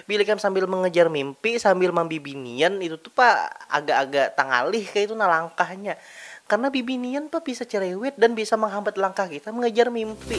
Bila ikam sambil mengejar mimpi, sambil mambibinian, itu tu pa agak-agak tangalih kaya itu nah langkahnya. Karena bibinian pa bisa cerewet dan bisa menghambat langkah kita mengejar mimpi.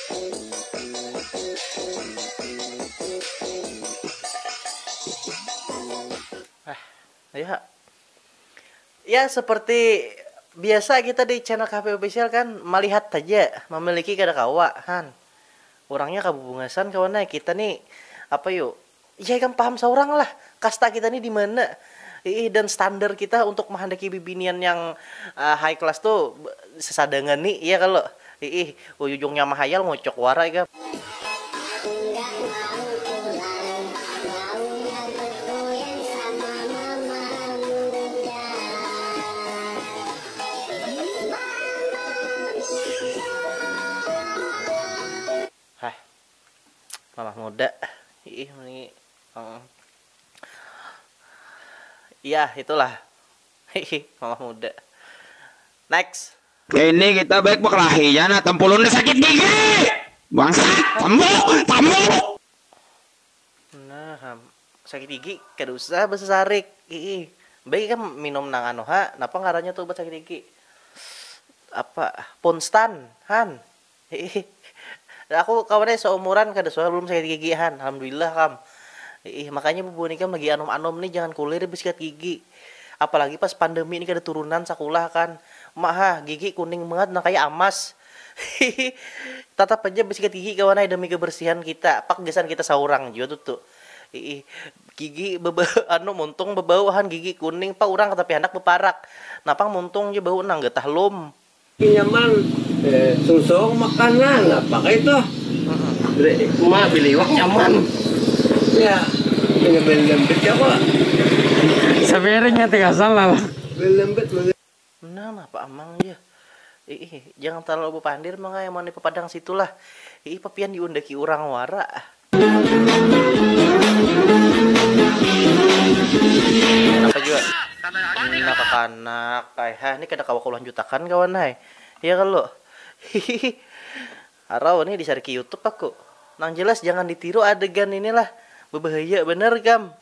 Ya, seperti biasa kita di channel KP Official kan melihat saja, memiliki kada kawa kan. Orangnya kabubungasan kawan kita nih apa yuk Ya ikam paham saurang lah kasta kita ni dimana iih dan standar kita untuk mehandaki bibinian yang high class tu sesadangan ni iya kalo iih uujungnya mahayal ngocok wara ikam. Hah Mamah muda. Iih ni um. Iyah itulah. Hihi mamah muda. Next. Ini kita baik bakelahinya nah tempulun nih sakit gigi. Bangsat, sambu, sambu. Nah ham, sakit gigi kada usah basasarik. Iih. Baik ikam minum nang anu ha, napa ngarannya tu ubat sakit gigi? Apa? Ponstan, han. Hihihi. Nah aku kawan ai saumuran kada suah balum sakit gigi han, alhamdulillah kam. Hiih, makanya bubuhan ikam lagi anum-anum nih jangan kulir basikat gigi. Apalagi pas pandemi nih kada turunan sakulah kan. Ma ha, gigi kuning bangat nang kaya amas. Hihi. Tatap haja basikat gigi kawan ai demi kebersihan kita, pak gasan kita saurang jua tutu. Hiih. Gigi beba anu muntung bebau han gigi kuning pa urang tapi handak beparak. Napang muntung ja bau nang getah lum. Pinjaman susung makanan apa kah itu ma beli iwak nyaman ya beli beli lembit ya kok sepiring ya tiga sal lah beli lembit mungkin. Nah napa amang jar, iih jangan talalu bapandir mangaya mani papadang situ lah, iih papian diundaki urang wara. anak ai ha ni kada kawa ku lanjut akan kawan ai ya kalo hihihi harau ni di cari ke youtube aku nang jelas jangan di tiru adegan ini lah bebahaya banar kam.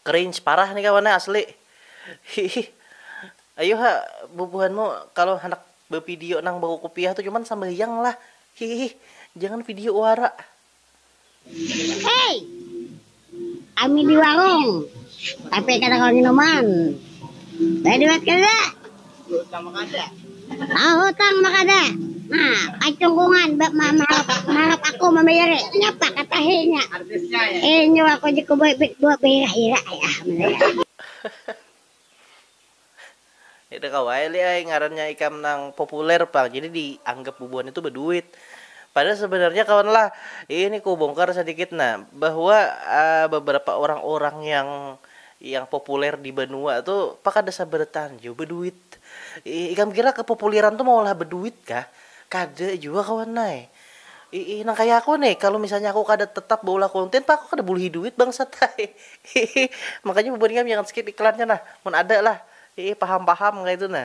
Cringe parah nih kawan asli. Hihih. Ayu ha bubuhanmu kalo handak bevidio nang bakukupiah tu cuman sambahyang lah. Hihih. Jangan video wara. Hei! Kami di warung, tapi kada kawa nginuman. Baduit kada? Tahutang makada. Nah, kacungkungan ba ma maharap aku mambayari. Napa ka tahi nya. Inyu aku ja ku bibit buah bahira-hira ai ah mulanya. Kada kawa ai li ai ngarannya ikam nang populer pang jadi di anggap bubuhan itu baduit. Padahal sebenarnya kawan lah, ini ku bongkar sadikit nah bahwa beberapa orang-orang yang. Yang populer di banua tu pa kada sabarataan jua baduit. Iih, ikam kira kepopuliran tu maulah baduit kah? Kada jua kawan ai. Iih, nang kaya aku nih, kalu misalnya aku kada tetap baulah konten pa aku kada bulihi duit bangsat ai. Iih, makanya bubuhan ikam jangan skip iklannya nah, mun ada lah. Iih, paham-paham kaya itu nah.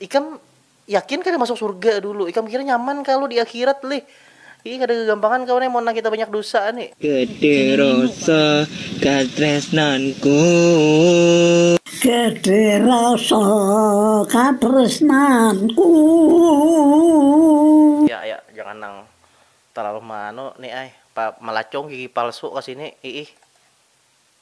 Ikam yakin kada masuk surga dulu? Ikam kira nyaman kalu di akhirat lih? Ih kada gagampangan kawan ai mun nang kita banyak dusa ni. Kada rasa katresnanku. Kada rasa katresnanku. Ya ya jangan nang talalu meanu ni ai, pa melacung gigi palsu ka sini iih.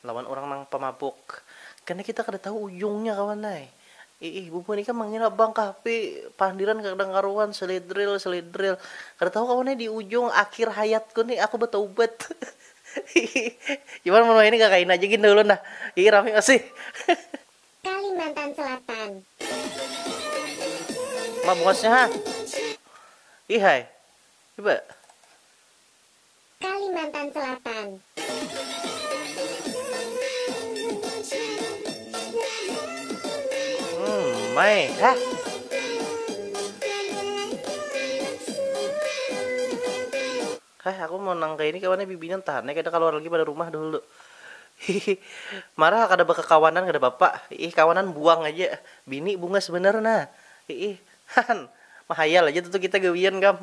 Lawan urang nang pamabuk. Kena kita kada tahu ujungnya kawan ai. Iih bubuhan ikam mangira bang kah pi pandiran kada karuan seledril seledril. Kada tahu kawan ai di ujung akhir hayatku ni aku bataubat iih. Iwan mun wahini kakaina aja gin dah ulun dah. Iih rami masih. Kalimantan Selatan. Mabungasnya ha. Iih ai. Iba. Kalimantan Selatan. Hmm, mai, ha. Hah, aku mau nang kayak ini kawannya bibinan tahan ya kada keluar lagi pada rumah dulu. Hihi, marah kada kawanan kada bapak. Ih, kawanan buang aja. Bini bungas bener nah. Ih, han, mahayal aja tuh kita gawian kam.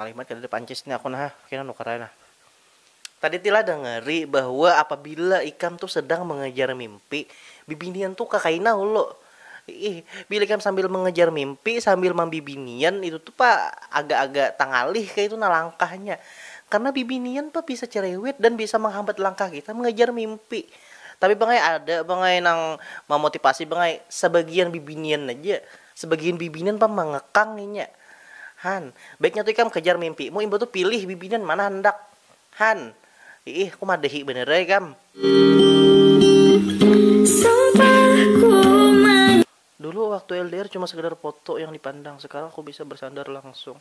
Ngalih banget kadada pancis ni aku nah, kena nukar ai nah. Tadi tila dengeri bahwa apabila ikam tu sedang mengejar mimpi, bibinian tu kakaina hulu. Ih, bila ikam sambil mengejar mimpi, sambil mambibinian itu tu pa agak-agak tangalih kaytu nah langkahnya. Karena bibinian pa bisa cerewet dan bisa menghambat langkah kita mengejar mimpi. Tapi pang ai ada pang ai nang mamotipasi pang ai, sebagian bibinian aja. Sebagian bibinan pang mangekang inya. Han. Baiknya tu ikam kajar mimpimu imbah tu pilih bibinan mana handak. Han. Iih, ku madahi banar ai kam. Dulu waktu LDR cuma sekadar foto yang dipandang, sekarang aku bisa bersandar langsung.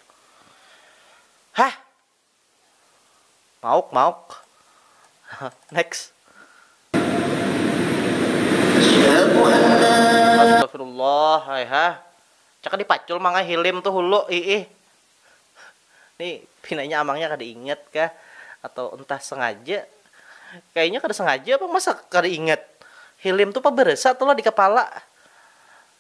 Hah. Mauk mauk next. Astagfirullah ai ha. Caka dipacul mangai hilim tu hulu iih. Ni pinanya amangnya kada ingat kah atau entah sengaja. Kayanya kada sengaja pang masa kada ingat. Hilim tu pabarasa tu lah di kapala.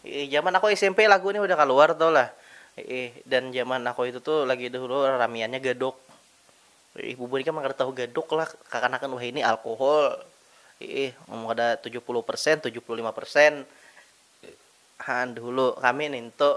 Iih jaman aku smp lagu nih udah kaluar tau lah iih dan jaman aku itu tuh lagi dahulu ramiannya gadok iih bubuhan ikam nang kada tahu gadok lah kakanakan wahini alkohol iih amun kada tujuh puluh persen tujuh puluh lima persen haan dahulu kami nintu.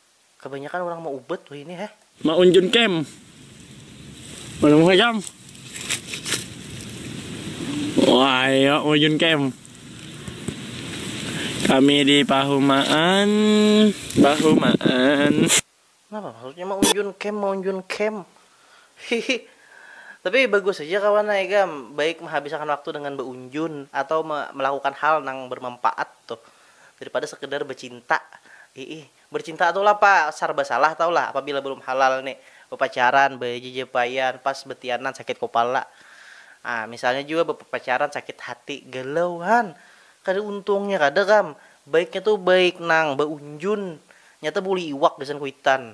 Kabanyakan urang maubat wahini heh. Ma unjun cam. Mana muha cam. Wahai ma unjun cam. Kami di pahumaan bahumaan. Napa maksudnya ma unjun cam ma unjun cam. Hihi. Tapi bagus haja kawan ai ikam baik mahabisakan waktu dengan ba unjun atau melakukan hal nang bermampaat tuh. daripada sekedar becinta iih bercinta tu lah pa sarba salah tau lah apabila belum halal ni bepacaran bejejepaian pas betianan sakit kopala ah misalnya jua bepacaran sakit hati galau han kada untungnya kada kam baiknya tu baik nang beunjun nyata buli iwak gasan kuitan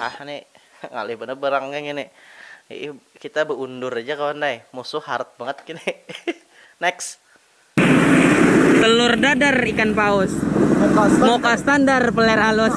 Maah ni, ngalih banar barangnya ngini. Iih, kita baundur aja kawan ai, musuh harat bangat kini. Next. Telur dadar ikan paus. Muka standar peler halus.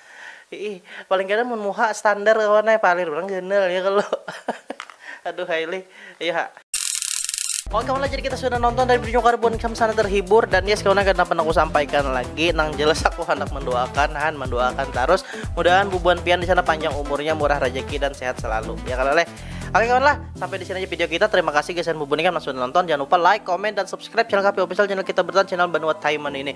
Iih, paling kada mun muha standar kawan ai, palir urang ganal ya kalo. Aduhai lih, ayu ha. Oke kawan lah, jadi kita sudah nonton dari video Karbon Cam sana terhibur dan yes kawan akan dapat aku sampaikan lagi nang jelas aku hendak mendoakan han mendoakan terus mudahan bubuhan pian di sana panjang umurnya murah rezeki dan sehat selalu ya kalau leh Oke kawan lah, sampai di sini aja video kita. Terima kasih guys dan bubuhan yang sudah nonton. Jangan lupa like, comment, dan subscribe channel KP Official, channel kita bertahan, channel Banua Taiman ini.